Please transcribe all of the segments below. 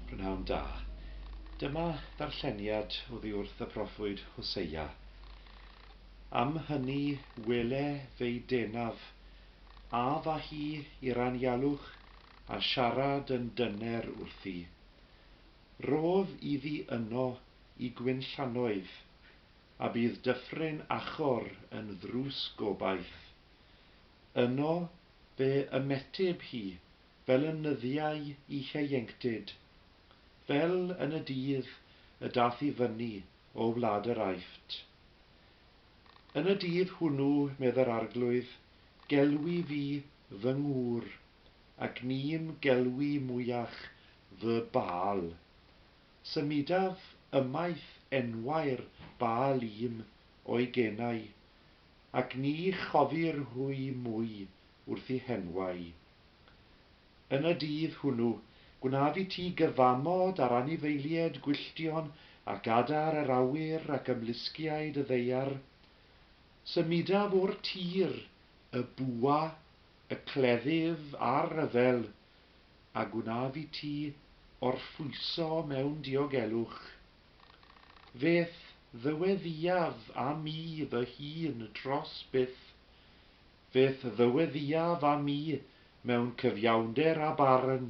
P'nawn da. Dyma ddarlleniad oddi wrth y proffwyd Hoseia. Am hynny wele fei denaf, a fa hi i'r anialwch a siarad yn dyner wrthi. Rodd iddi yno i gwinllannoedd, a bydd dyffryn Achor yn ddrws gobaith. Yno fe ymeteb hi fel y nyddiau ieuenctid, fel yn y dydd y dath i fyny o wlad yr Aifft. Yn y dydd hwnnw, medd yr Arglwydd, gelwi fi fy ngŵr, ac nim gelwi mwyach fy Baal. Symudaf ymaith enwau'r Baal i'm o'i genau, ac ni chofir hwy mwy wrth i henwau. Yn y dydd hwnnw, gwnaf i ti gyfamod ar anifeilied gwylltion ac adar yr awyr ac ymlusgiaid y ddaear. Symudaf o'r tir, y bwa, y cleddyf a'r rhyfel, a gwnaf i ti orffwyso mewn diogelwch. F'eth ddyweddïaf â mi fy hun tros byth, Beth ddyweddiaf am mi mewn cyfiawnder a barn,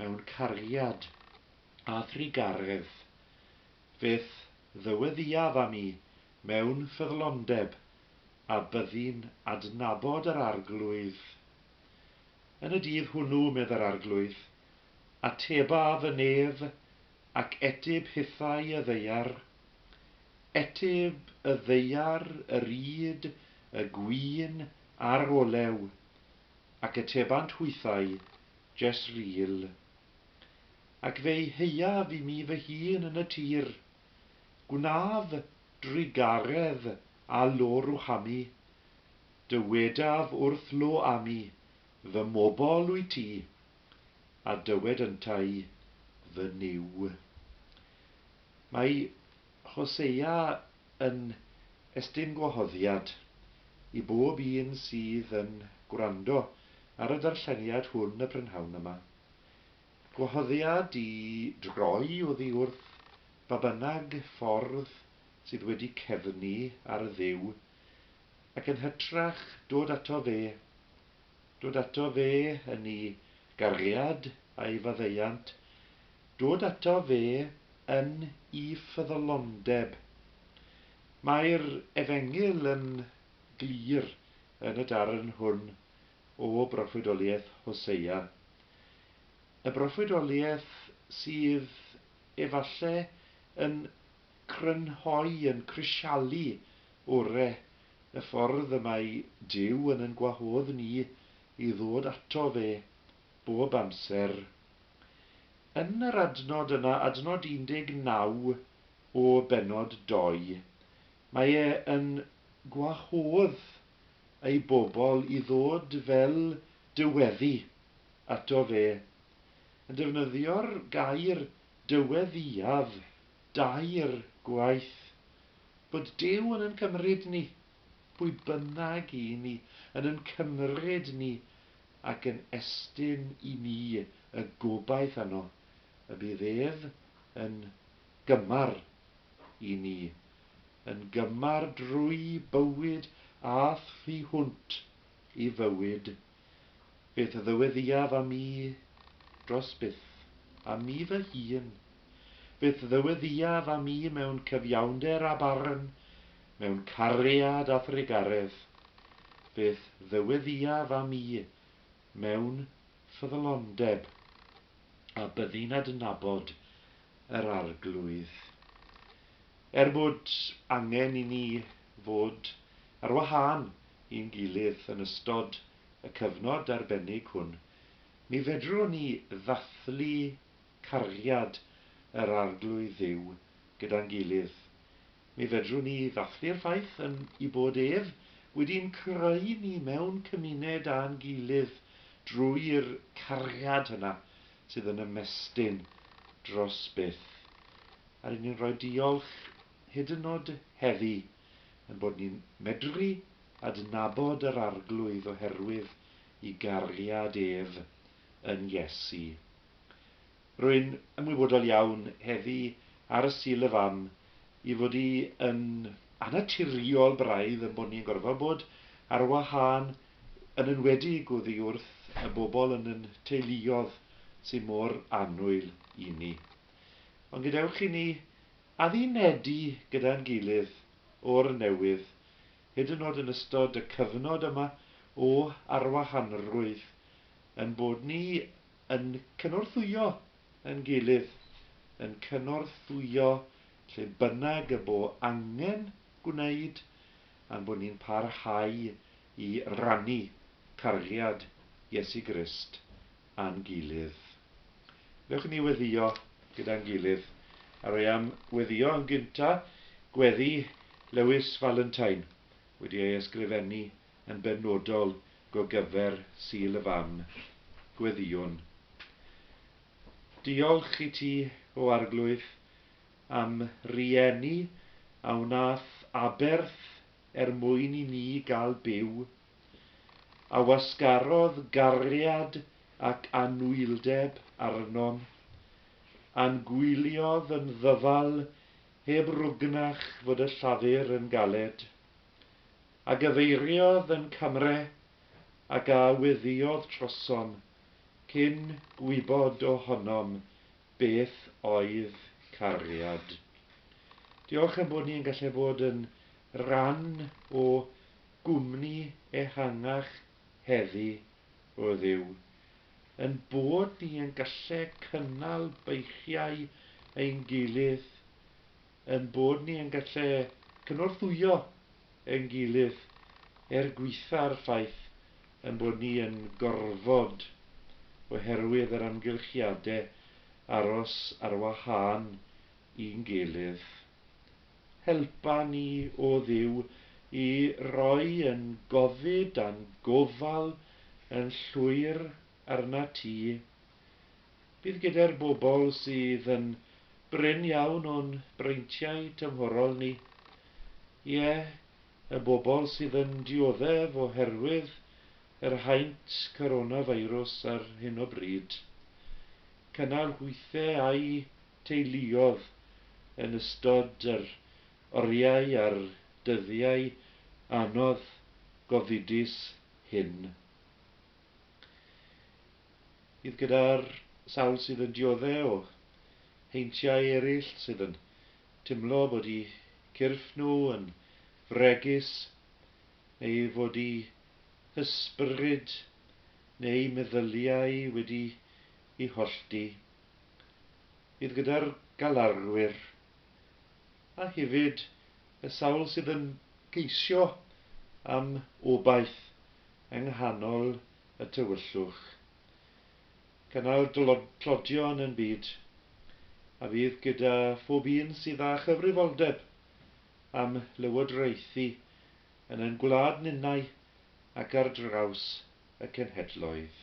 mewn cariad a thrugaredd? Beth ddyweddiaf am mi mewn ffyddlondeb a byddi'n adnabod yr Arglwydd? Yn y dydd hwnnw, medd yr Arglwydd, atebaf y nef Ac etyb hithau y ddaear, etyb y ddaear y ryd y gwin a'r olew, ac etebant hwythau, Jesreel. Ac fe'i heiaf i mi fy hun yn y tir, gwnaf drugaredd â Lo-Ruhami, dywedaf wrth Lo-ami, Fy mobl wyt ti, a dywed yntau, Fy Nuw. Mae Hosea yn estyn gwahoddiad i bob un sydd yn gwrando ar y darlleniad hwn y prynhawn yma. Gwahoddiad i droi oddi wrth ba bynnag ffordd sydd wedi cefnu ar y Dduw, ac yn hytrach dod ato Fe, Dod ato fe yn ei gariad a'i faddeuant, dod ato fe yn ei ffyddlondeb. Mae'r Efengyl yn glir yn y darn hwn o broffwydoliaeth Hoseia, y broffwydoliaeth sydd efalle yn crynhoi, yn crisialu ore Y ffordd y mae Duw yn yn gwahodd ni i ddod ato fe bob amser. Yn yr adnod yna, adnod 19 o bennod 2, mae e yn gwahodd ei bobl i ddod fel dyweddi ato fe, yn defnyddio'r gair dyweddiaf Dair gwaith. Bod Duw yn yn cymryd ni, pwy bynnag i ni, yn yn cymryd ni ac yn estyn i ni y gobaith yno y bydd ef yn gymar i ni, yn gymar drwy bywyd â thu hwnt i fywyd Beth ddyweddïaf am mi? Dros byth. Am mi fy hun. Beth ddyweddïaf am mi mewn cyfiawnder a barn, mewn cariad a thrugaredd? Beth ddyweddïaf am mi mewn ffyddlondeb a byddi'n adnabod yr Arglwydd? Er bod angen i ni fod ar wahân i'n gilydd yn ystod y cyfnod arbennig hwn, mi fedrwn ni ddathlu cariad yr Arglwydd Dduw gyda'n gilydd. Mi fedrwn ni ddathlu'r ffaith yn ei bod ef wedi'n creu ni mewn cymuned â'n gilydd drwy'r cariad yna sydd yn ymestyn dros byth. A ry'n ni'n rhoi diolch hyd yn nod heddi, ein bod ni'n medru adnabod yr Arglwydd oherwydd i gariad ef yn Iesu. Rwy'n ymwybodol iawn heddi ar y Sul y Fam i fod i yn annaturiol braidd ein bod ni yn gorfod bod ar wahân yn enwedig oddi wrth y bobl yn yn teuluodd sy'n mor annwyl i ni. Ond gadewch i ni Addunedi gyda'n gilydd o'r newydd, hyd yn oed yn ystod y cyfnod yma o arwahanrwydd, ein bod ni yn cynorthwyo yn gilydd, yn cynorthwyo lle bynnag y bo angen gwneud, a'n bod ni'n parhau i rannu cariad Iesu Grist â'n gilydd. Wnewch ni weddïo gyda'n gilydd a roi am weddïo yn gynta' gweddi Lewis Valentine wedi ei ysgrifennu yn benodol go gyfer Sul y Fam. Gweddïwn. Diolch i ti, O Arglwydd, a'm rhieni a wnaeth aberth er mwyn i ni gael byw, a wasgarodd gariad ac anwyldeb arnom, a'n gwyliodd yn ddyfal heb rwgnach fod y llafur yn galed, a gyfeiriodd yn camre ac a weddïodd trosom cyn gwybod o honom Beth oedd cariad? Diolch ein bod ni yn gallu bod yn rhan o gwmni ehangach heddi, o Dduw. Ein bod ni yn gallu cynnal beichiau ein gilydd ein bod ni yn gallu cynorthwyo ein gilydd er gwaetha'r ffaith ein bod ni yn gorfod, oherwydd yr amgylchiadau, aros ar wahân i'n gilydd. Helpa ni, O Dduw, i roi ein gofid a'n gofal yn llwyr arnat Ti. Bydd gyda'r bobl sydd yn brin iawn o'n breintiau tymhorol ni, ie, y bobl sydd yn dioddef oherwydd yr haint coronafeirws ar hyn o bryd, cynnal hwythau â'u teuluodd yn ystod yr oriau a'r dyddiau anodd gofidus hyn. Bydd gyda'r sawl sydd yn diodde' o heintiau eraill sydd yn timlo bod eu cyrff nhw yn fregus neu fod eu hysbryd neu meddyliau wedi'u hollti. Bydd gyda'r galarwyr, a hefyd y sawl sydd yn ceisio am obaith yng nghanol y tywyllwch, cynnal tlodion yn byd a fydd gyda phob un sydd â chyfrifoldeb am lywodraethu yn ein gwlad ninnau ac ar draws y cenhedloedd.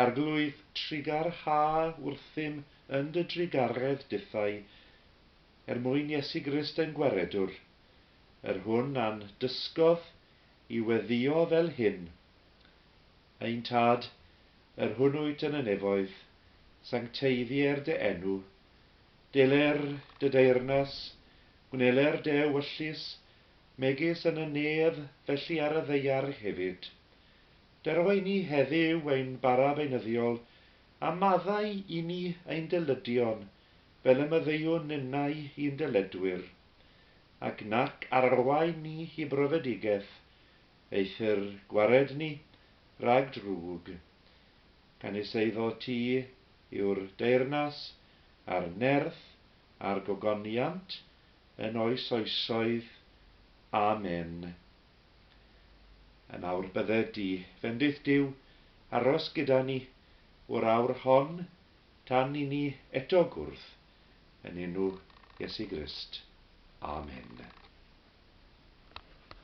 Arglwydd trugar ha wrthym yn dy drugaredd dithau, er mwyn Iesu Grist ein Gwaredwr, yr hwn a'n dysgodd i weddïo fel hyn, Ein Tad, yr hwn wyt yn y nefoedd, sancteiddier dy enw, deler dy deyrnas, gwneler dy ewyllys, megis yn y nef felly ar y ddaear hefyd. Dero i ni heddyw ein bara beunyddiol, a maddau i ni ein dyllydion, fel y maddeuwn ninnau i'n dyledwyr. ac nac arwain ni i brofedigeth, eithr gwared ni rhag drwg. Gan is eiddo ti yw'r deyrnas a'r nerth a'r gogoniant yn oes oesoedd. Amen. Yn awr bydde di, fendith Duw, aros gyda ni o'r awr hon tan i ni eto gwrdd. yn enw Iesu Grist, amen.